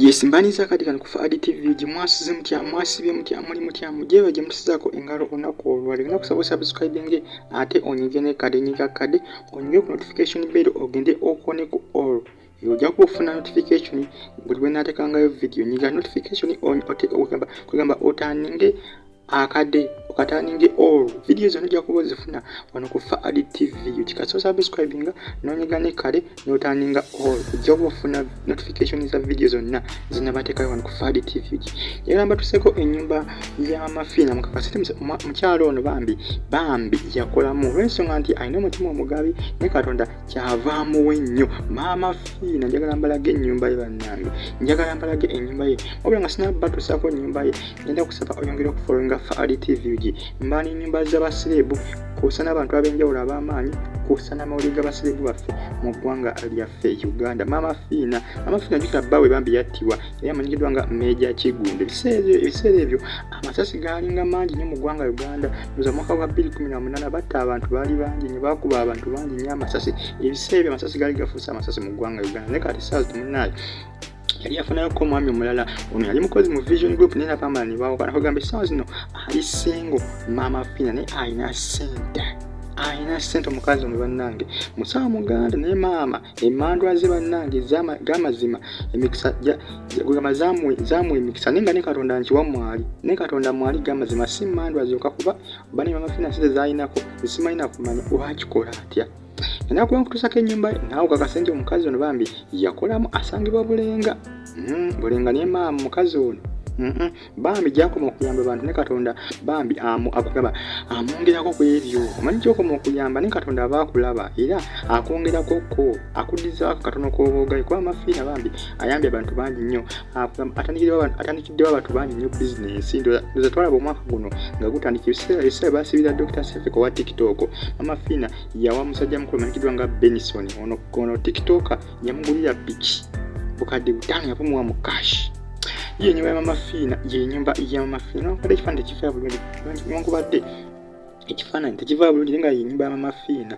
Yes, mbaniza kati kano kufa adi TV gye mwasize mutya mwasibye mutya muli mutya mujeeba gye musizako engalo olunaku olwali olina kusaba osubscribinge ate onyige ne kade nyiga kade onyige ku notification bell ogende okone ku all eyo ojja kuba ofuna notification buli lwe naatekangayo video nyiga notification on ote kwegamba otaninge akade okataninge all vidiyo zona ojja kuba ozifuna wano ku faad tv okikasa osubscribinga nonyega ne kale notaninga all ojja kuba ofuna notification za vidiyo zonna zinabatekayo wano ku faad tv era mbatuseko enyumba yamafiina mukakasite mukyalo ono bambi bambi yakolamu olwensonga nti alina omutima omugabi ne katonda kyavaamuwe nnyo maama fiina njagala mbalage enyumba ye bannange njagala mbalage enyumba ye wabula nga sinabatusako enyumba ye ngenda kusaba oyongere okufollowinga faali tvg mbaana enyumba z'abasireebu kwosa n'abantu ab'enjawulo ab'amaanyi kwosa n'amawulire g'abasireebu baffe mu ggwanga lyaffe uganda maama fiina maama fiina jukira bba we bambi yattibwa yali amanyikiddwa nga meja kigunda ebiseera ebyo amasasi gaalinga mangi nnyo mu ggwanga uganda oza mwaka gwa 218 batta abantu baali bangi nyo bakuba abantu bangi nnyo amasasi ebiseera ebyo amasasi gaali gafuuse amasasi mu ggwanga uganda naye kati saazi temunaayo yali yafunayoko omwami omulala ono yali mukozi mu vision group naye nabamala nebawukana kugamba essaawa zino ali singo maama fina naye alina sente alina sente omukazi omu bannange musawa muganda naye maama emandwa ze bannange gamazima emikisa gamba zamuwa emikisa naye nga ne katonda nkiwa mwali naye katonda mwali gamazima si mandwa zoka kuba bane maama fina sente zalinako zisimalina kumanya wakikola atya enaku enkutusako enyumba naawe kakase nti omukazi ono bambi yakolamu asangibwa bulenga hmm, bulenga naye maama mukazi ono bambi gyakoma okuyamba abantu ne katonda bambi akugaba amwongerako ku ebyo omanyi gyokoma okuyamba ne katonda aba akulaba era akwongerakokko akuddizaako katono koboogayi kuba amafiina bambi ayambye abantu bangi nnyo atandikiddewo abantu bangi nnyo bizinensi ndoza twalaba omwaka guno nga gutandika ebiseera basibira dr sefik owa tiktok mama fina yawa musajja mukulu manyikiddwa nga benison ono ono tiktok yamugulira piki bukadde butaano yapumuwa mu cash yenyumba ya mama fina yenyumba ya mama fina nokubadde ekifaananyi tekifaa bulungi newankubadde ekifaananyi tekivaa bulungi naye nga yenyumba ya mama fina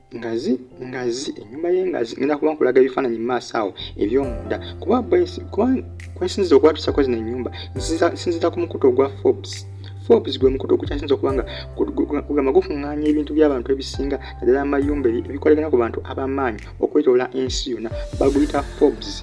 ngazi ngazi enyumba ye ngazi ngenda kuba nkulaga ebifaananyi mu maaso awo ebyomunda kuba kwesinziza okwatuusako zino enyumba nsinziza ku mukutu ogwa forbes forbes gwe mukutu ogukyasinza okuba nga gugamba gufuŋŋaanya ebintu by'abantu ebisinga naddala amayumba ebikolagana ku bantu abamaanyi okwetoola ensi yonna baguyita forbes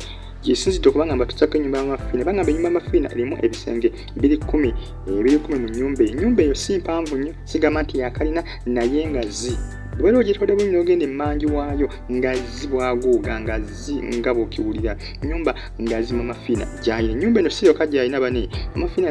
gyesinzidde okuba nga mbatuusako enyumba yamafiina bagamba enyumba yamafiina erimu ebisenge biri kumi ebiri kumi mu nyumba eyo enyumba eyo si mpanvu nnyo sigamba nti yakalina naye nga zi bwera ogitwade bunyi nogenda emanji waayo nga zi bwaguuga nga zi nga bwokiwulira nyumba nga zi mamafiina gyayina enyumba eno siyoka gyayina bane mamafiina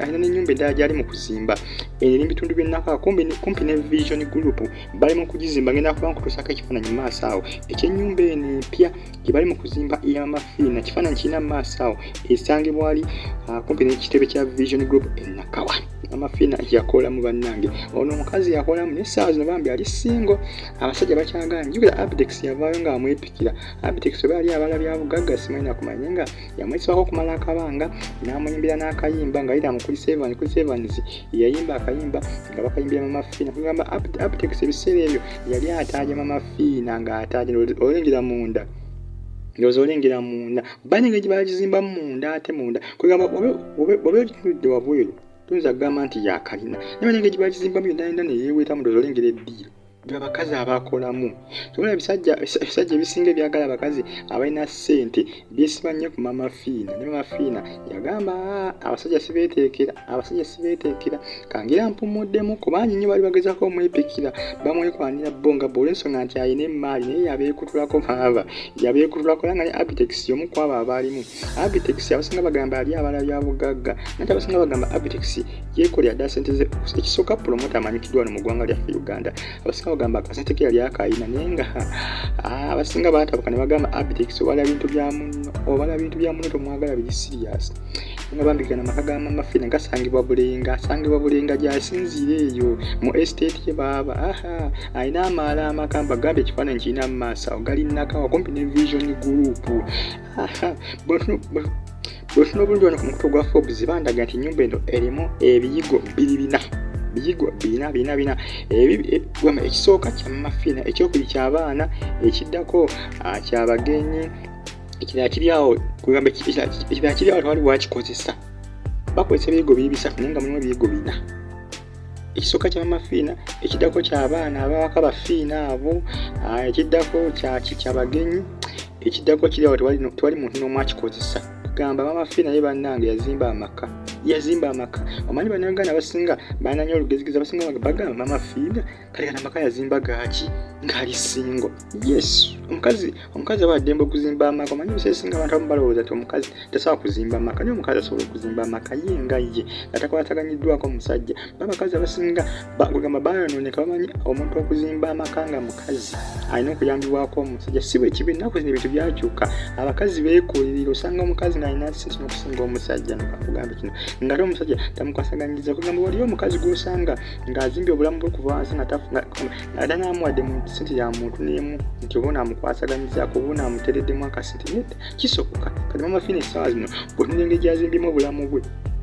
alina nenyumba eddala gyali mu kuzimba eno eri mubitundu byenaka kumpi ne vision group bali mu kugizimba ngenda kuba nkutusako ekifaananyi maaso awo ekyenyumba eno empya gye bali mu kuzimba ey'amafiina kifaananyi kirina mu maaso awo esangibwa ali ah, kumpi n'ekitebe kya vision group enakawa amafiina yakolamu bannange ono omukazi yakolamu naye essaawa zino bambi ali singo abasajja bakyagala njukira abdex yavaayo nga amwepikira abdex oba yali abala bya bugagga simanyina kumanya nga yamwesibako okumala akabanga n'amuyimbira n'akayimba nga yira mukuli sevan kuli sevans yeyayimba akayimba nga bakayimbira mu mafiina kugamba abdex ebiseera ebyo yali ataajama mafiina fiina ng'ate ate olengera munda ndoza olengera munda bane nga gyebagizimbamu munda ate munda kwegamba oba ogitunudde wabweru tuyinza kugamba nti yakalina naye bane nga gyebagizimbamu yonayona neyeweta mu ndoza olengera eddiiro abakazi abakolamu tubona ebisajja ebisajja ebisinga ebyagala abakazi abalina ssente byesiba nnyo ku mama fiina ne mama fiina yagamba ah, abasajja sibeteekera abasajja sibeteekera kangira mpumuddemu kubangi nnyo bali bagezako omwepikira bamwekwanira bo nga bwolwensonga nti alina emaali naye yabeekutulako maaba yabeekutulako era nga ne abitex yomu kwabo abaalimu abitex abasinga bagamba ali abala bya bugagga nati abasinga bagamba abitex yekolera dda sente ze ekisooka pulomota amanyikiddwa no mu ggwanga lyaffe uganda abasinga bagamba kasete ke yali akayina naye nga ah, abasinga batabuka ne bagamba abitex obala bintu bya muno obala bintu bya muno tomwagala biri serious nga bambikana amaka ga mama fina gasangibwa bulenga asangibwa bulenga gyasinziira eyo mu estate ye baaba aha alina amaala amakamba gamba ekifaananyi kirina mu maaso awo galinakawa kumpi ne vision group bwetuna obulungi wano ku mukutu gwa forbes bandaga nti enyumba eno erimu ebiyigo biri bina biyigo bina bina bina ebigwama e, ekisooka kyamafina ekyokubiri kyabaana ekiddako ah, kyabagenyi ekirala kiri awo kugamba ekirala kiri awo tewali wakikozesa bakozesa ebiyigo biri bisatu naye nga mulimu ebiyigo bina ekisooka kya mama fiina ekiddako kyabaana abawaka bafiina abo ah, ekiddako kyaki kyabagenyi ekiddako kiriawo tewali muntu n'omu akikozesa gamba mama fiina ye bannange yazimba amaka yazimba amaka omanyi banauganda abasinga bananyo olugezigiza basinga bagamba mama fiina kale kana amaka yazimba gaaki ngali singo yes omukazi omukazi aba addembe okuzimba amaka omanyi ebiseera singa abantu abamu balowooza nti omukazi tasobola kuzimba amaka naye omukazi asobola okuzimba amaka ye nga ye nga takwataganyiddwako omusajja babakazi abasinga bagamba bayonooneka bamanyi omuntu okuzimba amaka nga mukazi alina okuyambibwako omusajja si bwe kibi ennaku zino ebintu byakyuka abakazi beekulirira osanga omukazi naalina sente n'okusinga omusajja nokakugamba kino ngate omusajja tamukwasaganyiriza kugamba waliyo omukazi gwosanga ng'azimbye obulamu bwe kuba nsi ng'ada n'amuwadde mu sente ya muntu n'emu nti oba onaamukwasaganyizaako oba onaamutereddemu akasente naye kisoboka kati mama fina essaawa zino bwe tunda engeri gyazimbyemu obulamu bwe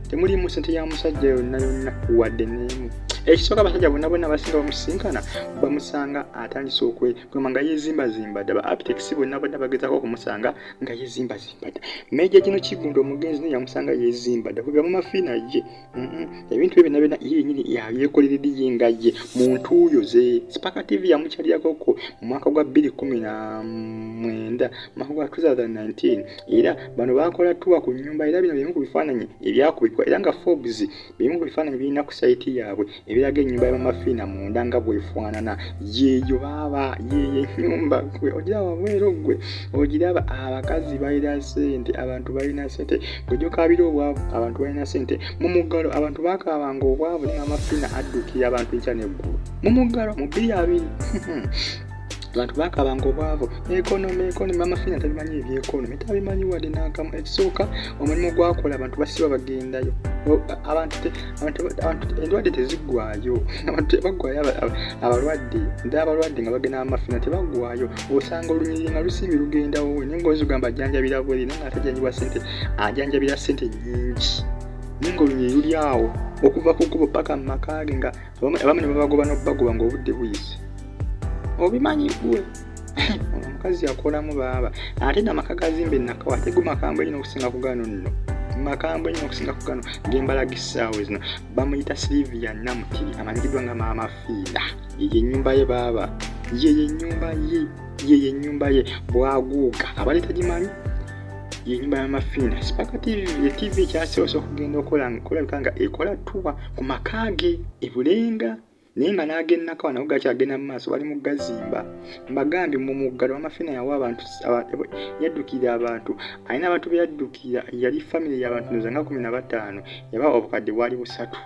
temulimu sente ya musajja yonna yonna wadde n'emu ekisooka abasajja bonna bonna abasinga bamusisinkana bamusanga atandise okwegamba nga yezimbazimba dda ba aptekisi bonna bonna bagezako okumusanga nga yezimbazimba dda meja gino kigunda omugenzi naye yamusanga yezimba dda kuva mu mafiina ye ebintu ebyo byonna byonna ye yenyini yabyekolera ediye nga ye mu ntuuyo ze sipaka tv yamukyalirakoko mu mwaka gwa bbiri kumi na mwenda mwaka gwa 2019 era bano bakola tuwa ku nyumba era bino bimu ku bifaananyi ebyakubikwa era nga forbes bimu ku bifaananyi birina ku sayiti yaabwe ebiraga ennyumba ya mama fiina munda nga bwefaanana yeeyo baaba yeeyo ennyumba gwe ogira wabweero gwe ogiraba abakazi balina sente abantu balina sente gwejokaabira obwavu abantu balina sente mu muggalo abantu bakaabanga obwavu ne mama fiina addukira abantu enkya neggulu mu muggalo mu bbiri abiri abantu bakabanga obwavu ekonomi ekonomi mama fina tabimanyi ebyekonomi tabimanyi wadde nakamu ekisooka omulimu gwakola abantu basiba bagendayo endwadde tezigwayo abantu tebagwayo abalwadde nda abalwadde nga bagenda amafina tebagwayo osanga olunyiriri nga lusimbi lugendawo we naye ngaozi ogamba ajanjabira bweri naye nga atajanjibwa sente ajanjabira sente nyingi naye nga olunyiriri luli awo okuva ku kubo paka mu maka ge nga abamu ne babagoba n'okubagoba ng'obudde buyise obimanyi gwe ono omukazi yakolamu baaba ate namaka gazimba enakawa ate gumakambwe nyina okusinga kugano nno makambwe nyina okusinga kugano gembalaga essaawa zino bamuyita silivia namutiri amanyikiddwa nga maama fiida eyo enyumba ye baaba yeyo enyumba ye yeyo enyumba ye bwaguuga abaleeta gimanyi yenyumba yamafiina sipaka tv ye tv kyasoose okugenda okola kulabika nga ekola tuba ku maka ge ebulenga naye nga n'agennako nago gakyagenda mu maaso bali mu gazimba mbagambye mu muggalo wamafina yawa abantu yaddukira abantu alina abantu be yaddukira yali famiry yabantu noza nga kumi na bataano yaba obukadde bwali busatu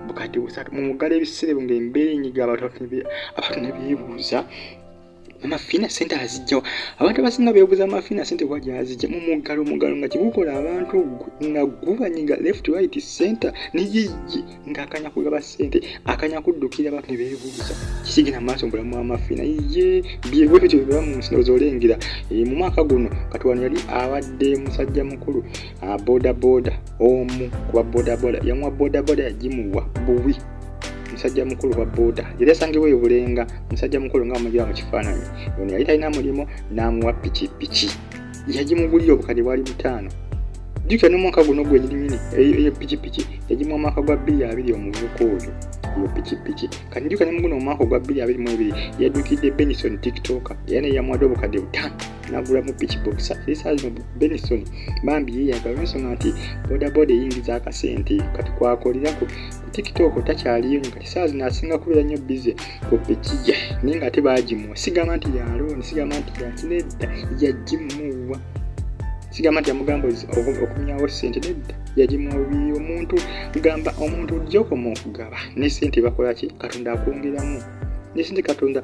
bukadde busatu mu muggalo ebiseera ebyo ngaembeera enyiga abantu ne beebuuza mama fina sente azijja abantu abasinga bebuza mama fina sente wa gyazijja mu muggalo muggalo nga kyegukola abantu nga gubanyiga left right center niyiyyi nga akanya kugaba sente akanya kuddukira abantu ne bebuuza kisigina maaso mbulamu mama fina ye byebyo bityo bibera mu nsi nozolengera eh, mu mwaka guno kati wano yali abadde musajja mukulu ah, bodaboda omu kuba bodaboda yamuwa bodaboda yagimuwa buwi musajja mukulu wa boda yali asangiwa ebulenga musajja mukulu nga amulira mu kifaananyi ono yali talina mulimu n'amuwa pikipiki yagimugulira obukadde bwali butaano jjukira n'omwaka guno gwenyininyini eyo pikipiki yagimuwa mwaka gwa bbiri abiri omuvuka oyo mu pikipiki kati njuka ne muguno omwaka ogwa 22 yaddukidde benison tiktoka era neyamuwadde obukadde butano nagulamu pikibokisa esaa zino benison bambi yeyaga olwensonga nti bodaboda eyingiza akasente kati kwakolera ku tiktok takyaliyo nyo kati saa zino asinga kubeera nnyo bize ku pikija naye nga ate bagimuwa sigamba nti yalooni sigamba nti yakinedda yagimuwa sigamba nti yamugamba okumyawo sente nedda yagimuwa bubiri omuntu gamba omuntu ojja okoma okugaba ne sente bakolaki katonda akwongeramu nesente katonda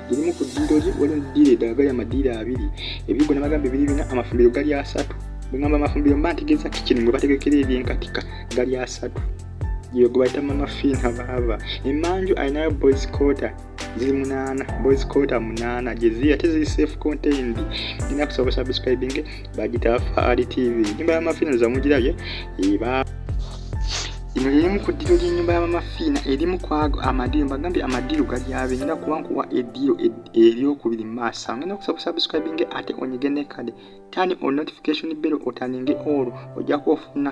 irimu ku ddiiro gi waliwo eddiiro eddala gali amadiiro abiri ebigo nabagamba ebiri bina amafumbiro gali asatu bwegamba amafumbiro mba ntegeeza kikini mwe bategekera ebyenkatika gali asatu gyeyo gwe bayita mama fin habaaba emanju alinayo boys quarter ziri munaana boys quarter munaana gyeziri ate ziri safe contained nina kusaba busubscribinge bagita faali tv enyumba yamafiina zamugirabye eba ino erimu ku ddiro ly'ennyumba y'abamafiina erimu kwago amadiiro mbagambye amadiiro gali abe ngenda kuba nkuwa eddiiro eryokubiri mu maaso ngenda okusaba kusubscribinge ate onyige nekade tani o notification bero otaninge olwo ojja kuba ofuna